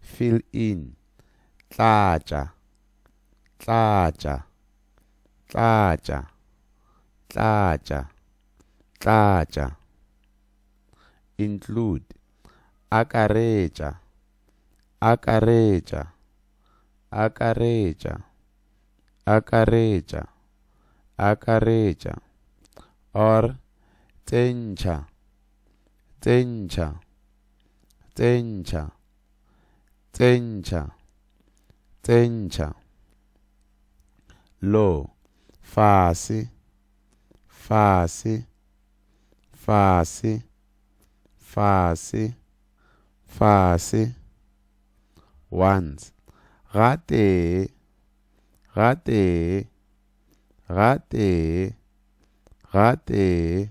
Fill in, Tlatša Tlatša Tlatša Tlatša Tlatša Include, Akaretša Akaretša Akaretša Akaretša Akaretša or Tsentšha Tsentšha. Tsentšha. Tsentšha. Tsentšha. Lo. Fase. Fase. Fase. Fase. Fase. Once. Ga tee. Ga tee. Ga tee. Ga tee.